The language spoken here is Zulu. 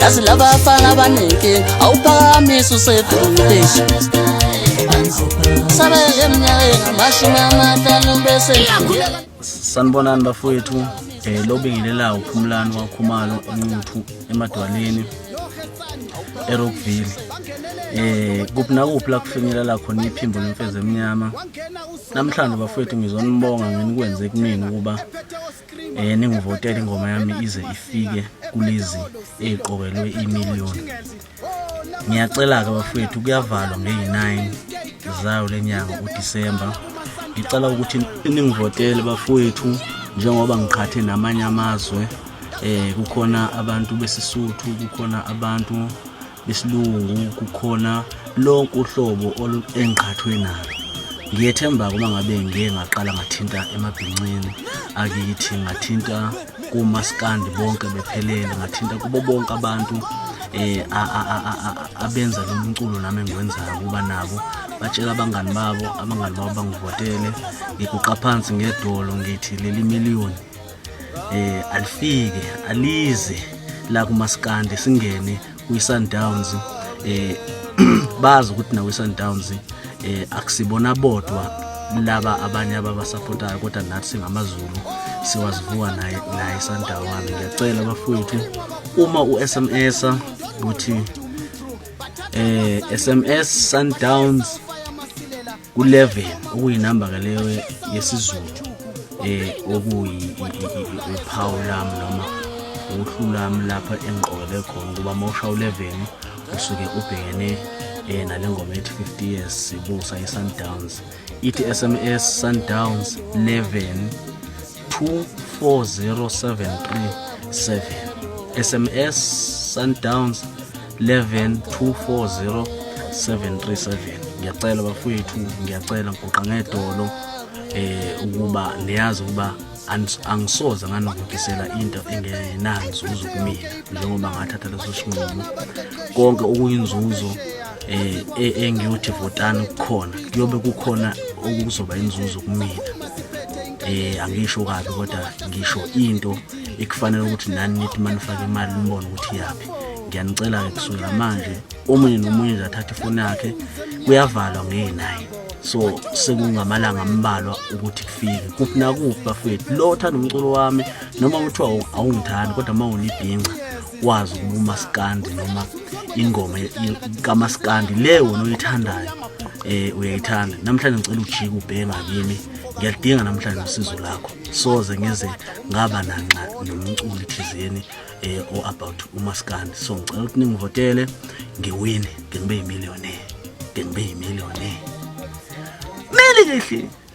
yazi laba afana abaningi awuphakamisa usedukeshi sabeke emnyakeni amashumi amahlanu bese sanibonani bafowethu um eh, lobingelela uphumulani wakhumalo enquthu emadwaleni erockville eh kuphi nakuphi la kufinyelela khona iphimbo lemfezi emnyama namhlanje bafowethu ngizonibonga ngenikwenze kumina ukuba eh ningivotela ingoma yami ize ifike kulezi eziqokelwe imillion ngiyacela ke bafethu kuyavalwa nge-9 zayo lenyanga uDisemba ngicela ukuthi ningivotele bafethu njengoba ngiqhathe namanye amazwe eh kukhona abantu besisuthu kukhona abantu besilungu kukhona lonke uhlobo engqhathwe nalo ngiyethemba uma ngabe ngike ngaqala ngathinta emabhincini akithi ngathinta kumaskandi bonke bephelele ngathinta kubo bonke abantu eh abenza lo mculo nami engiwenzayo kuba nabo batshela abangani babo abangani babo bangivotele ngiguqa phansi ngedolo ngithi leli miliyoni eh alifike alize la kumaskandi singene kwiSundowns eh bazi ukuthi nawe Sundowns eh akusibona bodwa laba abanye ababasupportayo kodwa nathi singamaZulu siwazivuka naye naye Sundowns ngiyacela bafowethu uma uSMS ukuthi eh SMS Sundowns ku-11 okuyinamba ke leyo yesizulu eh okuyiphawu lami noma uhlu lami lapha engiqokele khona ukuba uma usha u-11 usuke ubhekene eh nale ngoma ethi 50 years sibusa i-sundowns ithi sms sundowns 11 24073 sms sundowns 1124073 ngiyacela bafowethu ngiyacela ngigoqa ngedolo eh ukuba niyazi ukuba angisoze nganokukisela into engenanzuzo kumina njengoba ngathatha leso sinqumo konke okuyinzuzo eh e, engiyothi votani kukhona kuyobe kukhona okuzoba inzuzo kumina eh angisho kabi kodwa ngisho into ekufanele ukuthi nani nithi manifake imali nibone ukuthi yaphi ngiyanicela-ke kusukela manje omunye nomunye nje athathe ifoni yakhe kuyavalwa ngeyinayi so sekungamalanga ambalwa ukuthi kufike kuphi nakuphi bafethu lo othanda umculo wami noma kuthiwa awungithandi kodwa uma unibhinca wazi ukuba umasikandi noma ingoma kamasikandi le wona oyithandayo um uyayithanda namhlanje ngicela ujike ubheka kimi ngiyalidinga namhlanje usizo lakho soze ngeze ngaba nanxa nomculi thizeni eh, o about umaskandi so ngicela ukuthi ningivotele ngiwine ngibe yimillionaire ngibe yimillionaire mele lehle